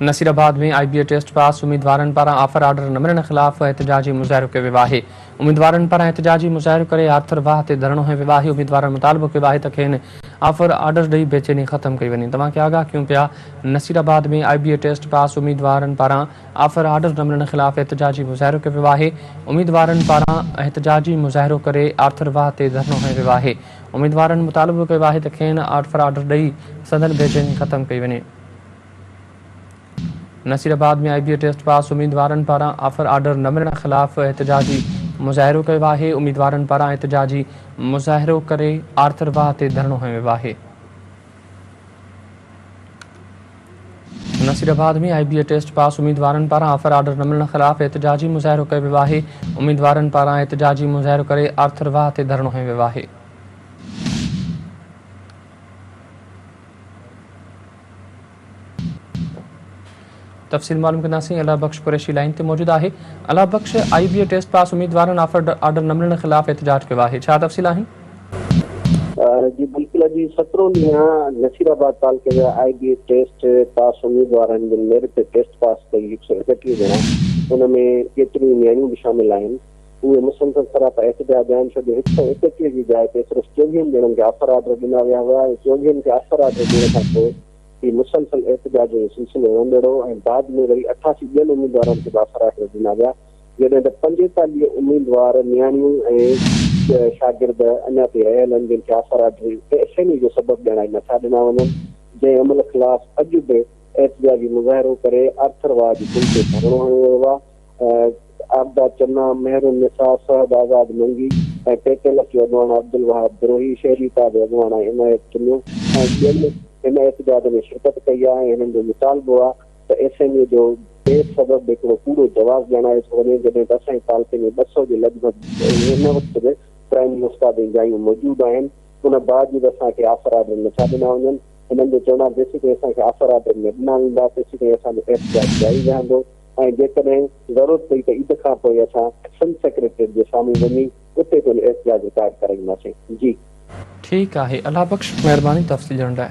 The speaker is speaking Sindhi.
Nasirabad ۾ I B A test pass اميدوارن پاران آفر آرڊر نه ملڻ خلاف احتجاجي مظاهرو ڪيو ويو آهي اميدوارن پاران احتجاجي مظاهرو ڪري آرٿر واهه تي ڌرڻو هنيو ويو آهي اميدوارن مطالبو ڪيو آهي ته کين آفر آرڊر ڏئي بيچيني ختم ڪئي وڃي توهان کي آگاهه ڪيون پيا Nasirabad ۾ I B A test pass اميدوارن پاران آفر آرڊر نه ملڻ خلاف احتجاجي مظاهرو ڪيو ويو آهي اميدوارن پاران احتجاجي مظاهرو ڪري آرٿر واهه تي ڌرڻو هنيو ويو آهي اميدوارن مطالبو ڪيو آهي ته کين آرٽ فار آرڊر ڏئي سندن بي چيني ختم ڪئي وڃي. Nasirabad ۾ I B A test pass اميدوارن پاران آفر آرڊر نه ملڻ خلاف احتجاجي مظاهرو ڪيو آهي، اميدوارن پاران احتجاجي مظاهرو ڪري آرٿر واهه تي ڌرڻو هنيو ويو آهي. Nasirabad ۾ I B A test pass اميدوارن پاران آفر آرڊر نه ملڻ خلاف احتجاجي مظاهرو ڪيو ويو آهي اميدوارن پاران احتجاجي مظاهرو ڪري آرٿر واهه تي ڌرڻو هنيو ويو آهي تفصيل معلوم ڪنداسين الله بخش قريشي لائين تي موجود آهي الله بخش آئي بي اي ٽيسٽ پاس اميدوارن آفر آرڊر نه ملڻ خلاف احتجاج ڪيو آهي ڇا تفصيل آهن. جي بلڪل اڄ سترون ڏينهن نصير آباد تعلقي جا آئي بي اي ٽيسٽ پاس اميدوارن جن ميرٽ تي ٽيسٽ پاس ڪئي هڪ سؤ اڪٽيهه ڄڻا ان ۾ ڪيتريون نياڻيون به شامل آهن اهي مسلسل سراپا احتجاج آهن ڇو جو هڪ سؤ اڪٽيهه جي جاء تي صرف چوويهن ڄڻن کي آفر آرڊر ڏنا ويا هئا ۽ چوويهن کي آفر آرڊر ڏيڻ کان پوء هي مسلسل احتجاجن جو سلسلو رهندڙ هو ۽ بعد ۾ وري اٺاسي ٻين اميدوارن کي به آسرا ڪري ڏنا ويا، جڏهن ته پنجيتاليهه اميدوار نياڻيون ۽ شاگرد اڃا تائين رهيل آهن، جن کي آسرا جي بي چيني جو سبب ڄاڻائي نٿا ڏنا وڃن، جنهن عمل خلاف اڄ به احتجاجي مظاهرو ڪري آرٿر واهه جي پل تي ڌرڻو هنيو ويو آهي. عابده چنا، مهر النساء، صهب آزاد منگي ۽ پيتي لڪي اڳواڻ عبدالوهاب دروهي، شهري اتحاد اڳواڻ ۽ عنايت چنو ۽ ٻين هن احتجاج ۾ شرڪت ڪئي آهي ۽ هنن جو مطالبو آهي ته ايس ايم اي جو بي سبب هڪڙو ڪوڙو جواز ڄاڻايو ٿو وڃي جڏهن ته اسان جي تعلقي ۾ ٻه سؤ جي لڳ ڀڳ هن وقت به پرائمري استاد جون جايون موجود آهن ان باوجود اسان کي آفر آرڊر نٿا ڏنا وڃن هنن جو چوڻ آهي جيسيتائين اسان کي آفر آرڊر نه ڏنا ويندا تيسيتائين اسان جو احتجاج جاري رهندو. ۽ جيڪڏهن ضرورت پئي ته عيد کان پوء اسان سنڌ سيڪريٽريٽ جي سامهون وڃي اتي پڻ احتجاج رڪارڊ ڪرائينداسين جي. ٺيڪ آهي الله بخش مهرباني تفصيل ڏيڻ لاء.